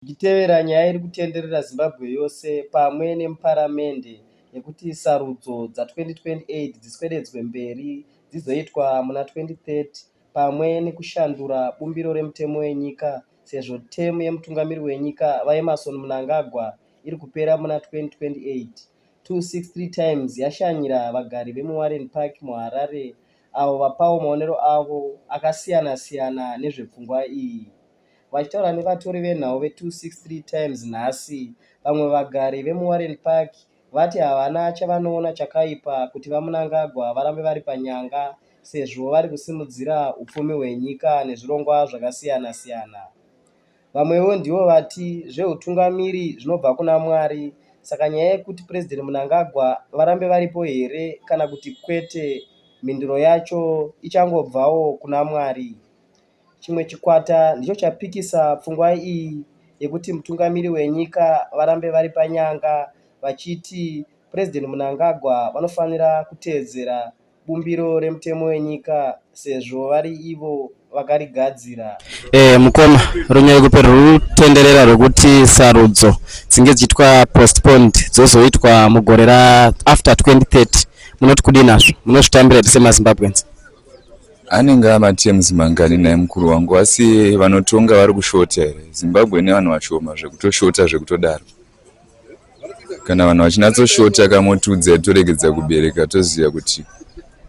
zvichitevera nyaya iri kutenderera Zimbabwe yose pamwe nemuparamende yekuti sarudzo dza 2028 dziswededzwe mberi dzizoitwa muna 2030 pamwe nekushandura bumbiro remutemo wenyika sezvo temu yemutungamiri wenyika VaEmmerson Mnangagwa iri kupera muna 2028. 263 times yashanyira vagari vemuwarren park muharare avo vapawo maonero avo akasiyana-siyana nezvepfungwa iyi Vachitaura nevatori venhau ve263 Times nhasi, vamwe vagari vemuWarren Park vati havana chavanoona chakaipa kuti VaMnangagwa varambe vari panyanga sezvo vari kusimudzira upfumi hwenyika nezvirongwa zvakasiyana-siyana. Vamwewo ndivo vati zvehutungamiri zvinobva kuna Mwari saka nyaya yekuti President Mnangagwa varambe varipo here kana kuti kwete mhinduro yacho ichangobvawo kuna Mwari. Chimwe chikwata ndicho chapikisa pfungwa iyi yekuti mutungamiri wenyika varambe vari panyanga vachiti President Mnangagwa vanofanira kuteedzera bumbiro remutemo wenyika sezvo vari ivo vakarigadzira. Eh, mukoma runyaya kupe rutenderera rwekuti sarudzo dzinge dzichiitwa postponed dzozoitwa mugore ra after 2030 munoti kudii nazvo munozvitambira here semazimbabweans? Anenge amatems mangani naye mukuru wangu asi vanotonga vari kushota here? Zimbabwe ine vanhu vashoma zvekutoshota zvekutodaro. Kana vanhu vachinatsoshota kamotudza toregedza kubereka toziva kuti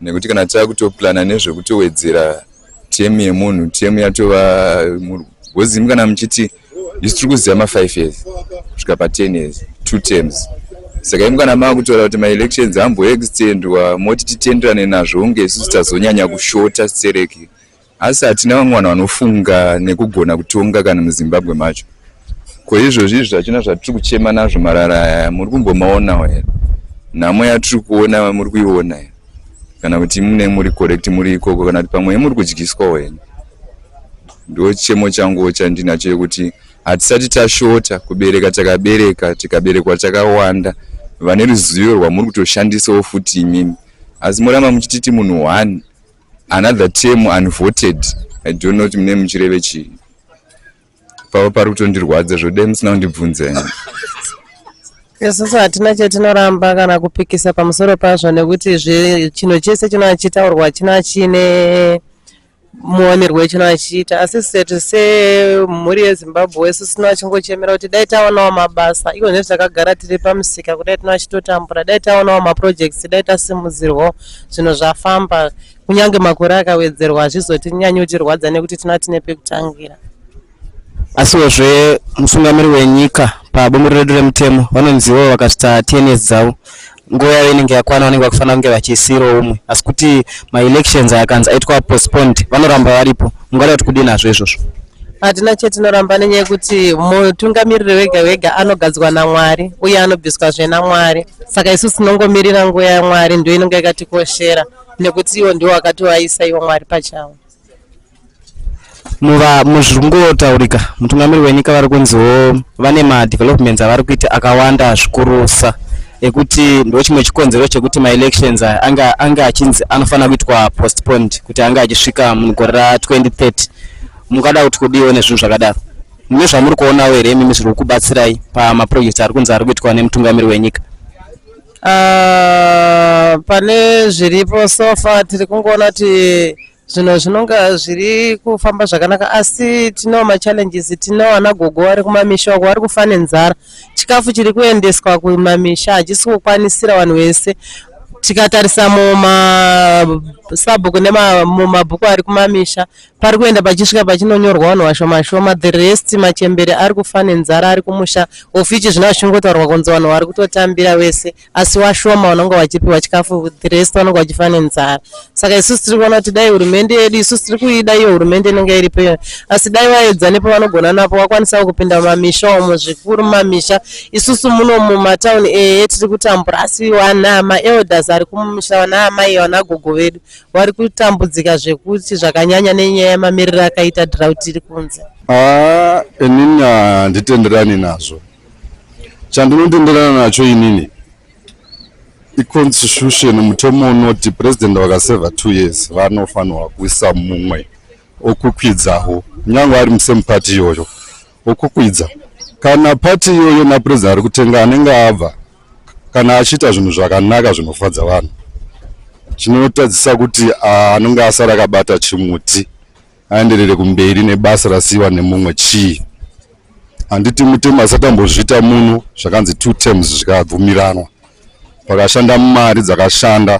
nekuti kana takutoplana nezvekutowedzera temu yemunhu temu yatova gozimu kana muchiti isu tiri kuziva ma5 years kusvika pa10 years two terms saka imi kana maakutora kuti maelections amboextendwa moti titenderane nazvo unge isusu tazonyanya kushota stereki asi hatina vamwe vanhu vanofunga nekugona kutonga kana muzimbabwe macho ko izvozvi izvi zvachina zvatiri kuchema nazvo marara aya muri kumbomaonawo here nhamo yatiri kuona muri kuiona here kana kuti mune muri correct muri ikoko kana kuti pamwe muri kudyiswawo here Ndo chemo changu chandinacho yekuti hatisati tashota kubereka takabereka tikaberekwa takawanda vane ruzivo rwamuri kutoshandisawo futi imimi asi moramba muchititi munhu one another term unvoted i don't know kuti mune muchireve chii pava pari kutondirwadza zvodai musina kundibvunza ini isusu hatina chatinoramba kana kupikisa pamusoro pazvo nekuti chinhu chese chinochitaurwa china chine muwanirwo wechino achiita asi setu semhuri yezimbabwe wesu sino achingochemera kuti dai taonawo mabasa iko nekuti takagara tiri pamusika kudai tino achitotambura dai taonawo maprojects dai tasimudzirwawo zvinhu zvafamba kunyange makore akawedzerwa hazvizotinyanyi kutirwadza nekuti tina tine pekutangira asiwozve musungamiri wenyika pabumbiro redu remutemo vanonziwo vakasvitsa tns dzavo nguva yavo inenge yakwana vanenge vakufanira kunge vachisiirawo umwe asi kuti maelections akanzi aitwa postponed vanoramba varipo mungada kuti kudii nazvo izvozvo hatina chetinoramba nenyaya yekuti mutungamiriri wega wega anogadzwa namwari uye anobviswa zve namwari saka isu tinongomirira nguva yamwari ndo inonge yakatikoshera nekuti iwo ndiwo akatiwaisa iwo mwari pachavo muva muzviri kungotaurika mutungamiri wenyika vari kunziwo vane madevelopments avari kuita akawanda zvikurusa ekuti ndo chimwe chikonzero chekuti maelections aya anga anga achinzi anofanira kuitwa postponed kuti anga achisvika mugore ra 2030 mukada kuti kudiwo nezvinhu zvakadaro mune zvamuri kuonawo here imimi zviri kukubatsirai pamaprojects ari kunzi ari kuitwa nemutungamiri wenyika Ah, pane zviripo so far tiri kungoona kuti zvinhu zvinonga zviri kufamba zvakanaka asi tino machallenges tino ana gogo vari kumamisha uko vari kufa nenzara chikafu chiri kuendeswa kumamisha hachisi kukwanisira vanhu vese tikatarisa mumasabhuku nemumabhuku ari kumamisha pari kuenda pachisvika pachinonyorwa vanhu vashoma shoma the rest machembere ari kufa nenzara ari kumusha ofichi zvino zvichingotaurwa kunzi vanhu vari kutotambira vese asi washoma vanonga vachipiwa chikafu the rest vanonga vachifa nenzara saka isusu tiri kuona kuti dai hurumende yedu isusu tiri kuida iyo hurumende inenge iri peyo asi dai vaedza nepavanogona napo vakwanisawo kupinda mumamisha umo zvikuru mumamisha isusu muno mumatauni ee tiri kutambura asi vana maelders ari kumumisha vana amai vana gogo vedu vari kutambudzika zvekuti zvakanyanya nenyaya yemamiriro akaita drought iri kunze haa inini handitenderani nazvo chandinotenderana nacho inini iconstitution mutemo unoti president vakaseva two years vanofanirwa kuisa mumwe okwikwidzawo kunyange ari musame party iyoyo Ukukwidza kana party iyoyo na president ari kutenga anenge abva kana achiita zvinhu zvakanaka zvinofadza vanhu chinotadzisa kuti anenge asara akabata chimuti aenderere kumberi nebasa rasiiwa nemumwe chii handiti mutemo asati ambozviita muno zvakanzi two terms zvikabvumiranwa pakashanda mari dzakashanda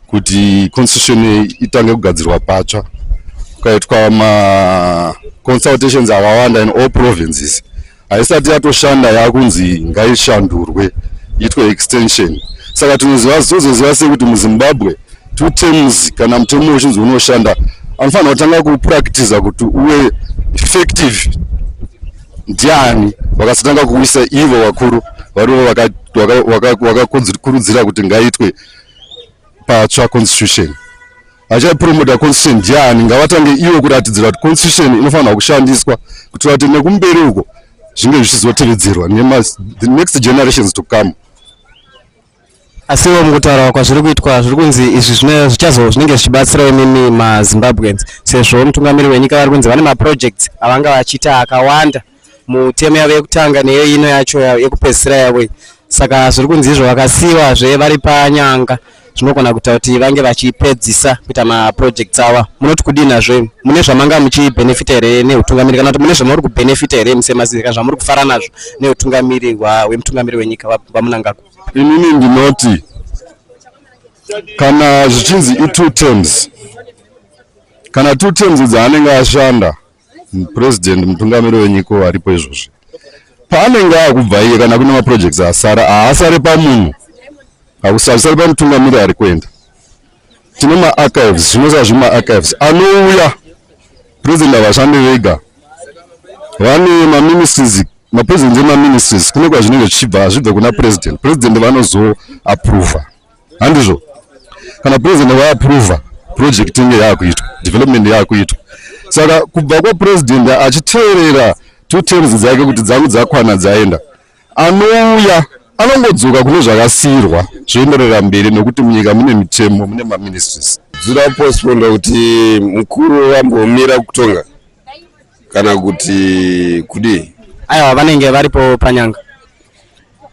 kuti constitution itange kugadzirwa patsva kukaitwa maconsultations akawanda in all provinces haisati yatoshanda yakunzi ngaishandurwe itwe extension saka tinoziva zitozoziva sei kuti muzimbabwe two terms kana mutemo uchinzi unoshanda anofanira kutanga kupractiza kuti uwe effective ndiani vakasatanga kuisa ivo vakuru varivo vakakurudzira kuti ngaitwe patsva constitution achapromota constitution ndiani ngavatange ivo kuratidzira kuti constitution inofanirwa kushandiswa kuitira kuti nekumberi uko zvinge zvichizotevedzerwa next generations to come asi ivo mukutaura kwazviri kuitwa zviri kunzi izvi zvichazo zvinenge zvichibatsira imimi mazimbabweans sezvo mutungamiri wenyika vari kunzi vane maprojects avanga vachiita akawanda mutemo yavo yekutanga neyo ino yacho yekupedzisira yavo iyi saka zviri kunzi izvo vakasiyiwa zve vari panyanga zvinogona kuita kuti vange vachipedzisa kuita maprojects ava munoti kudii nazvo mune zvamanga muchibhenefita here neutungamiri kana kuti mune zvamuri kubhenefita here musemazii kana zvamuri kufara nazvo neutungamiri hwemutungamiri wenyika vamunangagwa inini ndinoti kana zvichinzi itwo terms kana two terms dzaanenge ashanda president mutungamiri wenyika aripo izvozvi paanenge akubva iye kana kune maprojects asara haasare pamunhu hakusari pamutungamiri ari kuenda tine maarchives zvinoziva zvi maarchives anouya president havashande vega vane maministries mapresident emaministries kune kwazvinenge zvichibva hazvibve kuna president president vanozoaprova handizvo kana president vaaprova project inge yaakuitwa development yaakuitwa saka kubva kwapresident achiteerera two terms dzake kuti dzangu dzakwana dzaenda anouya anongodzoka kune zvakasiyirwa zvoenderera mberi nokuti munyika mune mitemo mune maministries zvoda kuposponda kuti mukuru vambomira kutonga kana kuti kudii aiwa vanenge varipo panyanga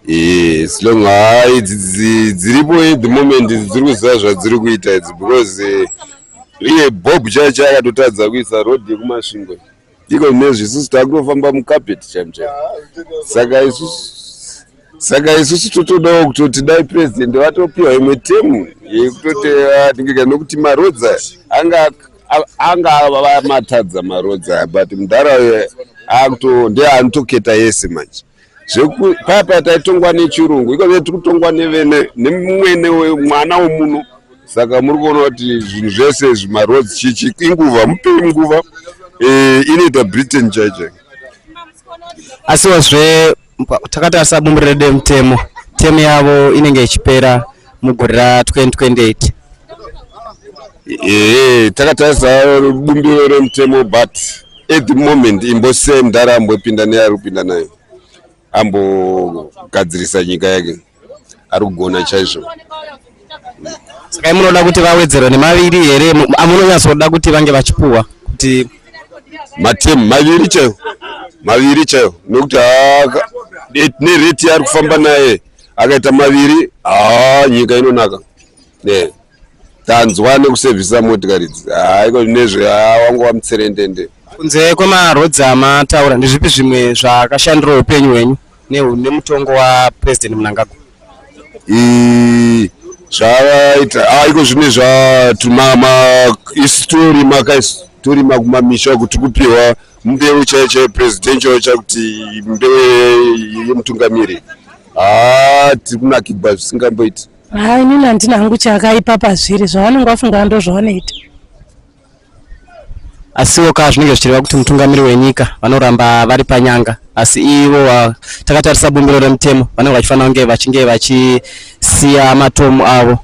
Eh, as long hai idzi dzi- dziripo at the moment idzi dziri kuziva zvadziri kuita idzi because eh, iye bob chaicho akatotadza kuisa road yekumasvingo iko nezvi isusu takutofamba mucapeti chamcha saka isusu saka isusu totodawo kutoti dai president vatopiwa imwe temu yekutoti atingeka nokuti marodza anga anga vamatadza marodza but mudhara uye akuto ndeanotoketa yese manje paya paya taitongwa nechirungu iko tiri kutongwa nevene nemwene mwana wemuno saka muri kuona kuti zvinhu zvese izvi maroads chichi inguva mupei nguva eh, inoita britain chaicho asiwozve takati asabumbirire demutemo temu yavo inenge ichipera mugore ra 2028 ee takatarisa bumbiro remutemo but at the moment imbosei mdhara ambopinda neari kupinda nayo ambogadzirisa nyika yake ari kugona chaizvo saka munoda kuti vawedzerwe nemaviri here amunonyatsoda kuti vange vachipuwa kuti matemu maviri chaiwo maviri chaiwo nokuti nereti yaari kufamba naye akaita maviri haa nyika inonaka yeah. tanzwa nekusevhisa motikari idzi haiko nezve wangu wamutserendende kunze kwemaroads amataura ndezvipi zvimwe zvakashandira upenyu hwenyu nemutongo wapresident munangagwa zvavaita aiko zvine zvatumama isitori maka isitori makumamisha kuti kupiwa mbeu chaiyo chaiyo presidential chakuti mbeu yemutungamiri haa tiri kunakigwa zvisingamboiti haa inini handina hangu chakaipa pazviri zvavanenge vafunga ndo zvavanoita asiwo ka zvinenge zvichireva kuti mutungamiri wenyika vanoramba vari panyanga asi ivo takatarisa bumbiro remutemo vanenge vachifanira kunge vachinge vachisiya matomu avo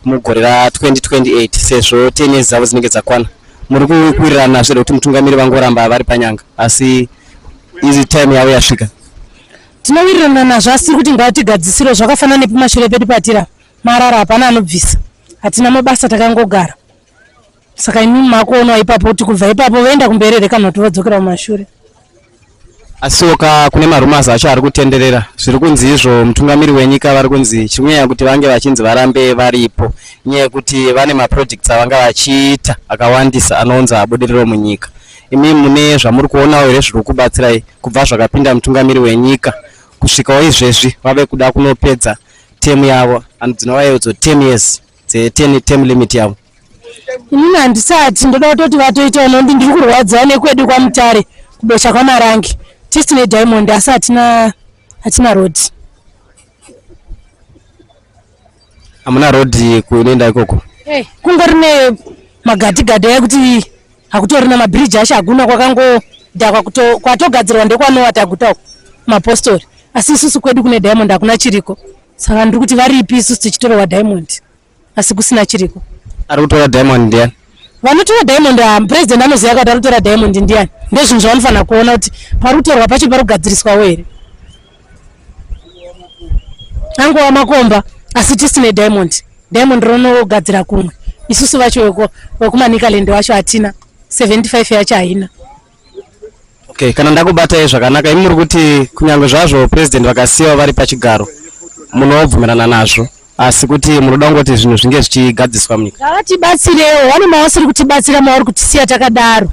mugore ra 2028 sezvo 10 years dzavo dzinenge dzakwana muri kuwirirana zve kuti mutungamiri vangoramba vari panyanga asi izi time yavo yasvika tinowirirana nazvo asi tiri kuti ngatigadzisiro zvakafanana nepamashure pedu patira marara hapana anobvisa hatina mabasa takangogara saka imi makuonawo ipapo kuti kubva ipapo voenda kumberi here kana kuti vodzokera kumashure asiwo ka kune marumas acho ari kutenderera zviri kunzi izvo mutungamiri wenyika vari kunzi chiri kunyanya kuti vange vachinzi varambe varipo nyaya yekuti vane maprojects avanga vachiita akawandisa anounza budiriro munyika imi mune zvamuri kuonawo here zviri kubatsirai kubva zvakapinda mutungamiri wenyika kusvikawo izvezvi vave kuda kunopedza temu yavo anodzinovayedzo ten years dzeterm limit yavo inini handisati ndoda kutoti vatoita unondi ndiri kurwadziwa nekwedu kwamutare kubesha kwamarangi tisi nediamond asi hatina hatina road hamuna road kunoenda ikoko hey, kungori nemagadhigadhi aya kuti hakutorina mabhiriji asho hakuna kwakangodhakwa kwatogadzirwa ndekwanowa taguta uko mapostori asi isusu kwedu kune diamond hakuna chiriko saka ndiri kuti varipi isusu tichitorowa diamond asi kusina chiriko ari kutora diamond ndiani vanotora diamond ah, president anoziva kuti ari kutora diamond ndiani ndezvinhu zvavanofanira kuona kuti pari kutorwa pacho pari kugadziriswawo here angova makomba asi tisine diamond diamond ronogadzira kumwe isusu vacho vekumanikaland wacho hatina 75 yacho haina okay kana ndakubatai zvakanaka imi muri kuti kunyange zvazvo president vakasiyawo vari pachigaro munobvumirana nazvo asi kuti munoda kungoti zvinhu zvinge zvichigadziswa munyika ngavatibatsirewo vane mavasiri kutibatsira mavari kutisiya takadaro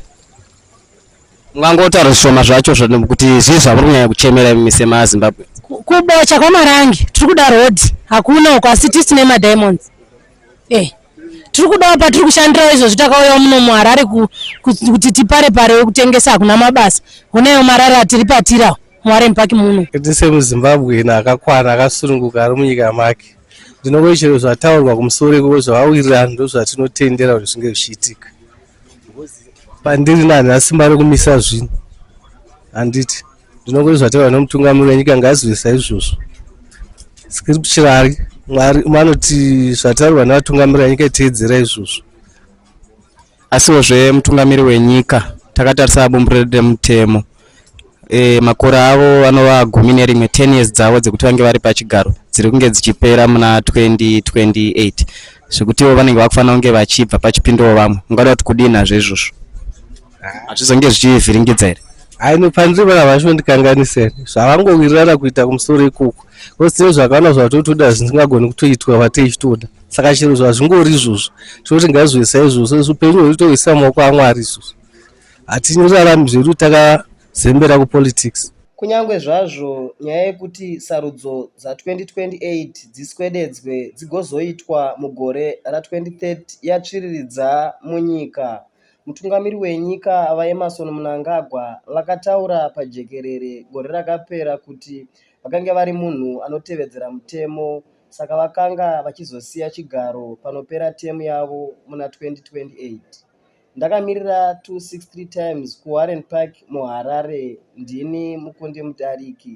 mungangotaura zvishoma zvacho kuti zvii zvamuri kunyanya kuchemera imi semazimbabwe kubocha kwamarange tiri kuda road hakuna uko asi tisi nemadiamonds Eh, tiri kudawo patiri kushandirawo izvozvi takauyawo muno muharare ku- ku- kuti tipare pare wekutengesa hakuna mabasa honaiwo marara atiri patirawo muwarren park muno kuti semuzimbabwean akakwana akasununguka ari munyika make ndinongoti chero zvataurwa kumusoro ikoko zvavawirirana ndozvatinotendera kuti zvinge zvichiitika pandiri nani asimba rekumisa zvinhu handiti ndinongoti zvataura nomutungamiri wenyika ngaazivisa izvozvo scripturary mwari vanoti zvataurwa nevatungamiri venyika iteedzera izvozvo asiwo zve mutungamiri wenyika takatarisa bumbiro remutemo e, makore avo anova gumi nerimwe 10 years dzavo dzekuti vange vari pachigaro dziri kunge dzichipera muna 2028 zvekutiwo vanenge vakufanira kunge vachibva pachipindawo vamwe ungada kuti kudinazvo izvozvo hazvizonge zvichivhiringidza here haino panzvimbo ava vachondikanganisa here zvavangowirirana kuita kumusoro ikoko bcause tine zvakawanda zvatotoda zvisingagoni kutoitwa vateichitoda saka chero zvazvingori izvozvo tinoti ngazviisa izvozvo upenyu hweitoisa maoko amwari izvozvo hatinyorarami zvedu takazembera kupolitics kunyange zvazvo nyaya yekuti sarudzo dza2028 dziswededzwe dzigozoitwa mugore ra2030 yatsviriridza munyika Mutungamiri wenyika VaEmmerson Mnangagwa vakataura pajekerere gore rakapera kuti vakange vari munhu anotevedzera mutemo saka vakanga vachizosiya chigaro panopera temu yavo muna 2028. Ndakamirira 263 times kuWarren Park muHarare ndini mukundi mudariki.